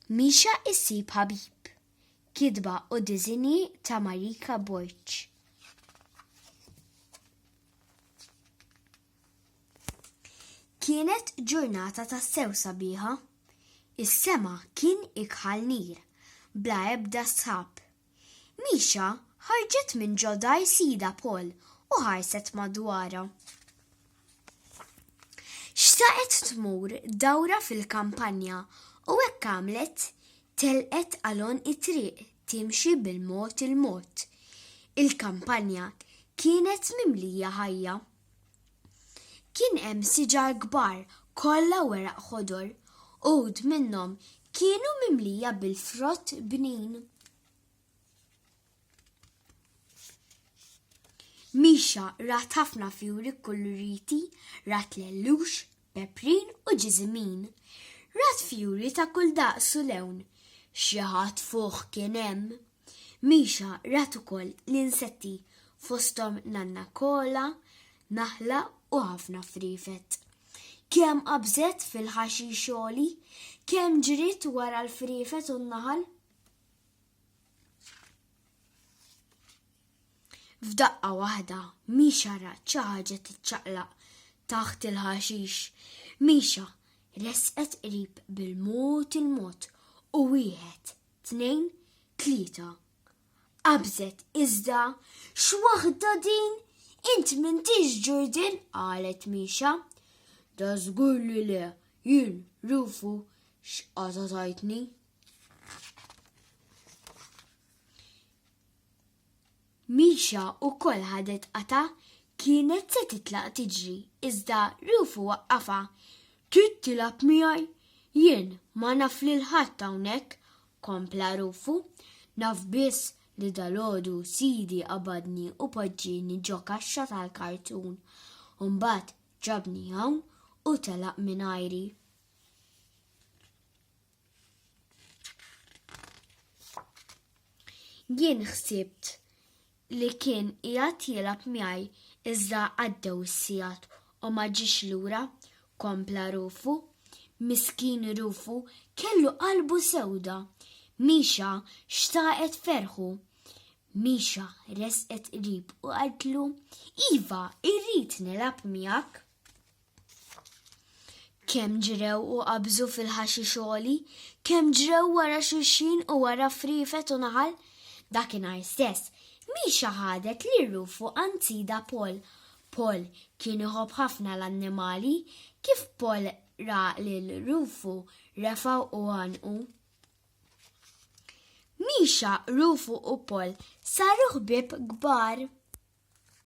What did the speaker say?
Mixha jsib ħabib. Kitba u diżinji ta' Marika Borċ. Kienet ġurnata ta' sew sabiħa. Is-sema kien ikħal nir, bla ebda sħab. Misha ħarġet minn ġo dar sidha Paul u ħarset madwarha. Xtaqet tmur dawra fil-kampanja u hekk għamlet, telqet għal għonq it-triq timxi bil-mod il-mod. Il-kampanja kienet mimlija ħajja. Kien hemm siġar kbar kollha weraq ħodor, uħud minnhom kienu mimlija bil-frott bnin. Misha rat ħafna fjuri kkuluriti, rat lellux, peprin u ġiżimin. Rat fjuri ta' kull daqs u lewn. Xi ħadd fuħ kien hemm. Misha rat ukoll l-insetti fosthom nanna kola, naħla u ħafna friefet. Kemm qabżet fil-ħaxix għoli, kemm ġriet wara l-friefet u n-naħal. F'daqqa waħda, Misha rat xi ħaġa tiċċaqlaq taħt il-ħaxix. Misha resqet qrib bil-mod il-mod u wieħed Tnejn, tlieta. Qabżet iżda x'waħda din int m'intix ġurdin qalet Mixa. Da żgur li le, jien rufu x'qata tajtni. Misha wkoll ħadet qatgħa, kienet se titlaq tiġri iżda Rufu waqqafha. Trid tilgħab miegħi? Jien ma naf lil ħadd hawnhekk, kompla Rufu. Naf biss li dalgħodu sidi qabadni u poġġieni ġo kaxxa tal-kartun u mbagħad ġabni hawn u telaq mingħajri. Jien ħsibt li kien qiegħed jilgħab miegħi iżda għaddew is-sigħat u ma ġiex lura, kompla Rufu. Miskin Rufu kellu qalbu sewda. Misha xtaqet ferħu. Misha resqet qrib u qaltlu, Iva, irrid nilgħab miegħek. kemm ġrew u qabżu fil-ħaxi xogħli, kemm ġrew wara xulxin u wara frifet u naħal, dakinhar stess, Misha ħadet li rufu anzida Pol. Pol kien iħobb ħafna l-annimali, kif Pol ra lil rufu refaw u għanqu. Misha, rufu u Pol saru ħbib kbar.